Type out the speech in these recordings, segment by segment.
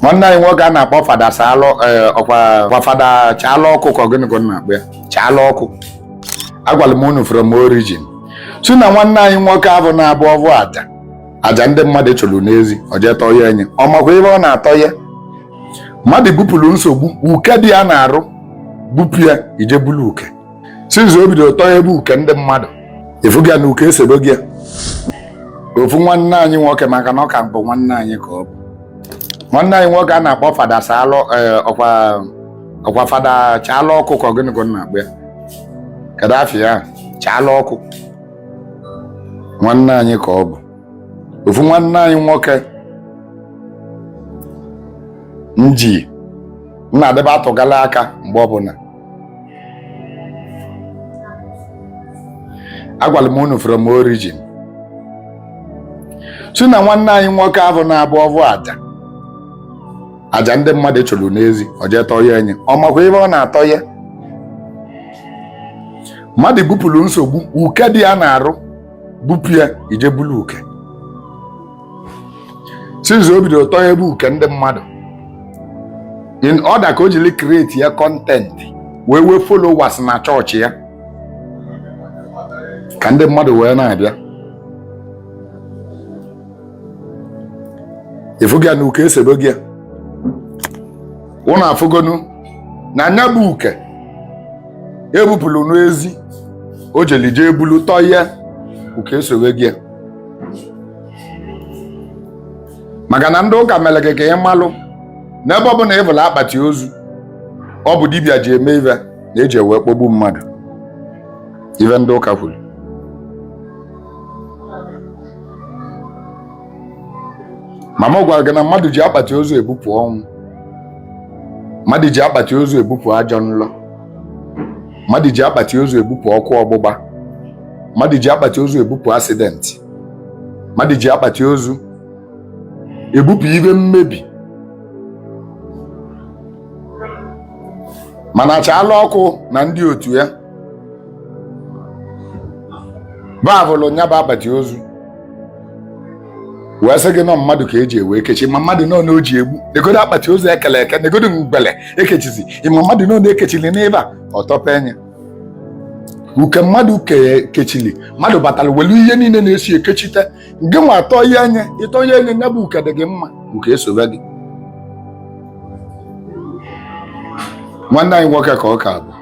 nwanne anyị nwoke a na-akpọ fada saalụ eh, ọkwa fada chaalụ ọkụ ka ọ gịnị ka na-akpọ ya chaalụ ọkụ agwara m unu from origin si na nwanne anyị nwoke ahụ na-abụ ọvụ aja aja ndị mmadụ chụrụ n'ezi o jee tọye nya ọ makwa ive ọ na-atọ ya mmadụ bupụrụ nsogbu uke dị ya n'arụ bupụ ya i jee bulu uke since o bidoro tọyebe uke ndị mmadụ ị fụgo ya na uke esobego ya ofu nwanne anyị nwoke maka na ọ ka bụ nwanne anyị ka ọ bụ nwanne anyị nwoke a na-akpọ fada saalụ eh, ọkwa fada chaalụ ọkụ ka gịnị ka a na-akpọ ya kedu afa ya chaalụ ọkụ nwanne anyị ka ọ bụ ofu nwanne anyị nwoke m ji na-adịba atụgala aka mgbe ọbụla agwara m unu from origin si na nwanne anyị nwoke ahụ na-abụ ọvụ aja aja ndị mmadụ chụrụ n'ezi o jee tọye nya ọ makwa ive ọ na-atọ ya mmadụ bupụrụ nsogbu uke dị ya n'arụ bupụ ya i jee bulu uke since o bidoro tọyebe uke ndị mmadụ in order ka o jiri create ya content wee nwee followers na chọọchị ya ka ndị mmadụ wee na-abịa ị fụgo ya na uke esobego ya unu afụgonu na nya bụ uke e bupụrụ n'ezi o jeli jee bulu tọye uke esobego ya maka na ndị ụka mere gị ka ị malụ n'ebe ọ bụla ị vụlụ akpati ozu ọ bụ dibịa ji eme ive na-eji wee kpọgbu mmadụ ive ndị ụka kwuru ma m gwara gị na mmadụ ji akpati ozu ebupụ ọnwụ mmadụ ji akpati ozu ebupụ ajọ nlọ mmadụ ji akpati ozu ebupụ ọkụ ọgbụgba mmadụ ji akpati ozu ebupụ accident mmadụ ji akpati ozu ebupụ ive mmebi mana chaalụ ọkụ na ndị otu ya va vụlụ nya bụ akpati ozu wee sị gị na mmadụ ka e ji wee kechi ma mmadụ nọ na o ji egbu negodo akpati ozu ekele eke negodo ngwele ekechizi ị ma mmadụ nọ na-ekechili n'ebe a ọ tọpee nya uke mmadụ kechili mmadụ batara welu ihe niile na-esi ekechite gị nwa atọye nya ị tọye nya ya bụ uke dị gị mma uke esobe gị nwanne anyị nwoke ka ọ ka bụ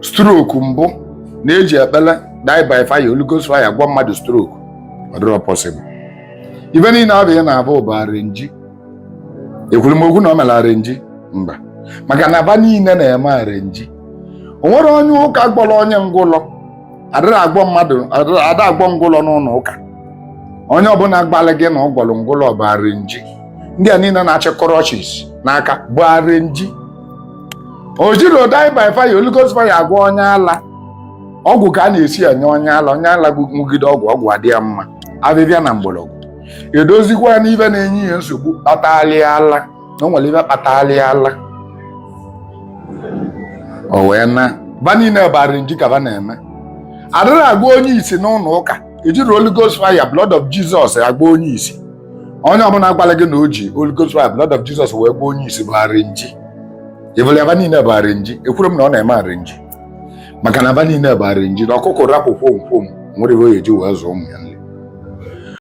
stroke mbụ na-eji ekpele die by fire Holy Ghost fire gwọ mmadụ stroke ọ dịrọ possible ife niile abịa na-abụ bụ arenji ekwurọ m okwu na o mere arenji mba maka na aba niile na-eme arenji o nwerọ onye ụka gwọrọ onye ngwụlọ a dịrọ agwọ mmadụ a da agwọ ngwụlọ n'ụlọ ụka onye ọbụla gwalị gị na ọ gwọrọ ngwụlọ bụ arenji ndị a niile na-achị crutches n'aka bụ arenji e jirọ die by fire Holy Ghost fire agwọ onye ala ọgwụ ka a na-esi enye onye ala onye ala ṅụgide ọgwụ ọgwụ adị ya mma afịfịa na mgbọrọgwụ edozikwa n'ife na-enye ya nsogbu kpatalị ala na o nwere ife kpatalị ala o wee naa ba niile bụ arenji ka ba na-eme a dịrọ agwọ onye isi n'ụlọ ụka e jirọ Holy Ghost fire blood of Jesus agwọ onye isi onye ọbụla gwalị gị na o ji Holy Ghost fire blood of Jesus wee gwọ onye isi bụ arenji ị fụla aba niile bụ arenji ekwurọ m na ọ na-eme arenji maka na aba niile bụ arenji na ọkụkọ rapụ kwom kwom nwere ihe o ji wee zụọ ụmụ ya